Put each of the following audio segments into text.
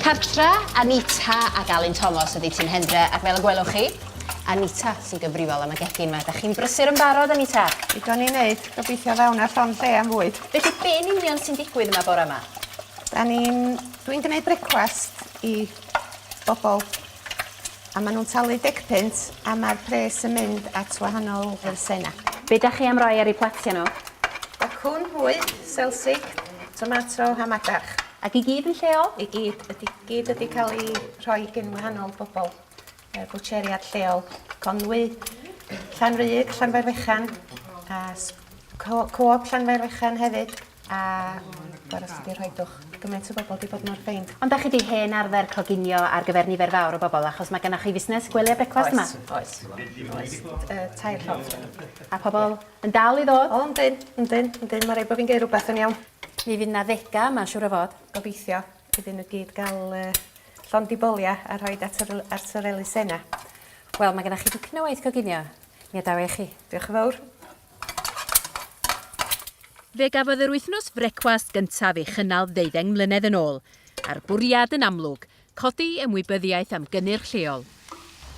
Cartre, Anita ac Alun Tomos ydi Tîm Hendre ac fel y gwelwch chi, Anita sy'n gyfrifol am y gegin 'ma. Dach chi'n brysur yn barod, Anita? Digon i wneud, gobeithio ddaw 'na llond lle am fwyd. Felly be' yn union sy'n digwydd yma bore 'ma? 'Dan ni'n... Dwi'n gneud brecwast i bobl. A maen nhw'n talu deg punt a mae'r pres yn mynd at wahanol elusennau. Be dach chi am roi ar eu platiau nhw? Bacwn, hwy, selsig, tomato a madarch. Ac i gyd yn lleol? I gyd. Ydy, gyd ydy cael ei rhoi gin wahanol bobl. Yy bwtsieriad lleol, Conwy, Llanrug, Llanfairfechan a s- Co- Co-op Llanfairfechan hefyd. A gora sy 'di rhoid dwch i gymaint o bobl 'di bod mor ffeind. Ond 'dach chi 'di hen arfer coginio ar gyfer nifer fawr o bobl achos mae gennoch chi fusnes gwely a brecwast yma. Oes oes oes yy tair llofft rwan. A pobl yn dal i ddod? O yndyn yndyn yndyn ma' raid bo' fi'n geu' rwbeth yn iawn. Mi fydd 'na ddega 'ma siŵr o fod. Gobeithio iddyn n'w gyd ga'l yy llond 'u bolia a rhoid at yr l- at yr elusenna. Wel ma' gennoch chi dipyn o waith coginio mi adawa i chi. Dioch y' fowr. Fe gafodd yr wythnos frecwast gyntaf ei chynnal ddeuddeng mlynedd yn ôl, a'r bwriad yn amlwg, codi ymwybyddiaeth am gynnyrch lleol.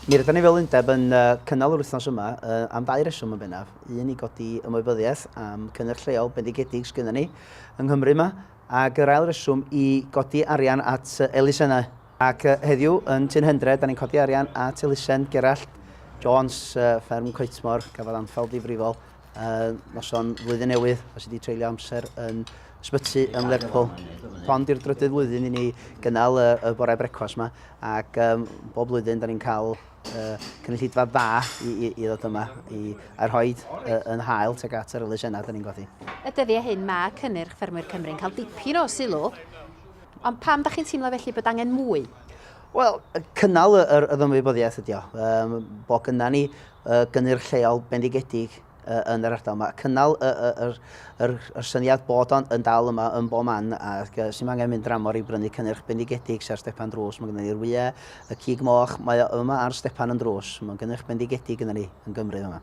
Mi rydan ni fel undeb yn cynnal yr wythnos yma am ddau reswm yn bennaf, un i godi ymwybyddiaeth am cynnyrch lleol bendigedig sgynnon ni yng Nghymru 'ma, ac yr ail reswm i godi arian at elusennau. Ac heddiw yn Tŷ'n Hendre, dan ni'n codi arian at elusen Gerallt Jones, Fferm Coetmor, gafodd anfal ddifrifol noson flwyddyn newydd, os ydi treulio amser yn ysbyty yn Lerpwl. Hon di'r drydydd flwyddyn i ni gynnal y bore brecwas yma, ac bob blwyddyn da ni'n cael cynulleidfa dda i, i, i ddod yma i, a rhoi yn hael teg at yr elusenau da ni'n godi. Y dyddiau hyn mae cynnyrch ffermwyr Cymru'n cael dipyn o sylw, Ond pam dach chi'n teimlo felly bod angen mwy? Wel, cynnal yr ymwybyddiaeth ydi o, um, bod gyda ni uh, gynnyrch lleol bendigedig uh, yn yr ardal yma. Cynnal y, y, yr, yr, yr syniad bod o'n yn dal yma yn bob man a sy'n angen mynd dramor i brynu cynnyrch bendigedig sy'n ar stepan drws. Mae gyda ni'r wyau, y cig moch, mae o yma ar stepan yn drws. Mae'n gynnyrch bendigedig gyda ni yn Gymru yma.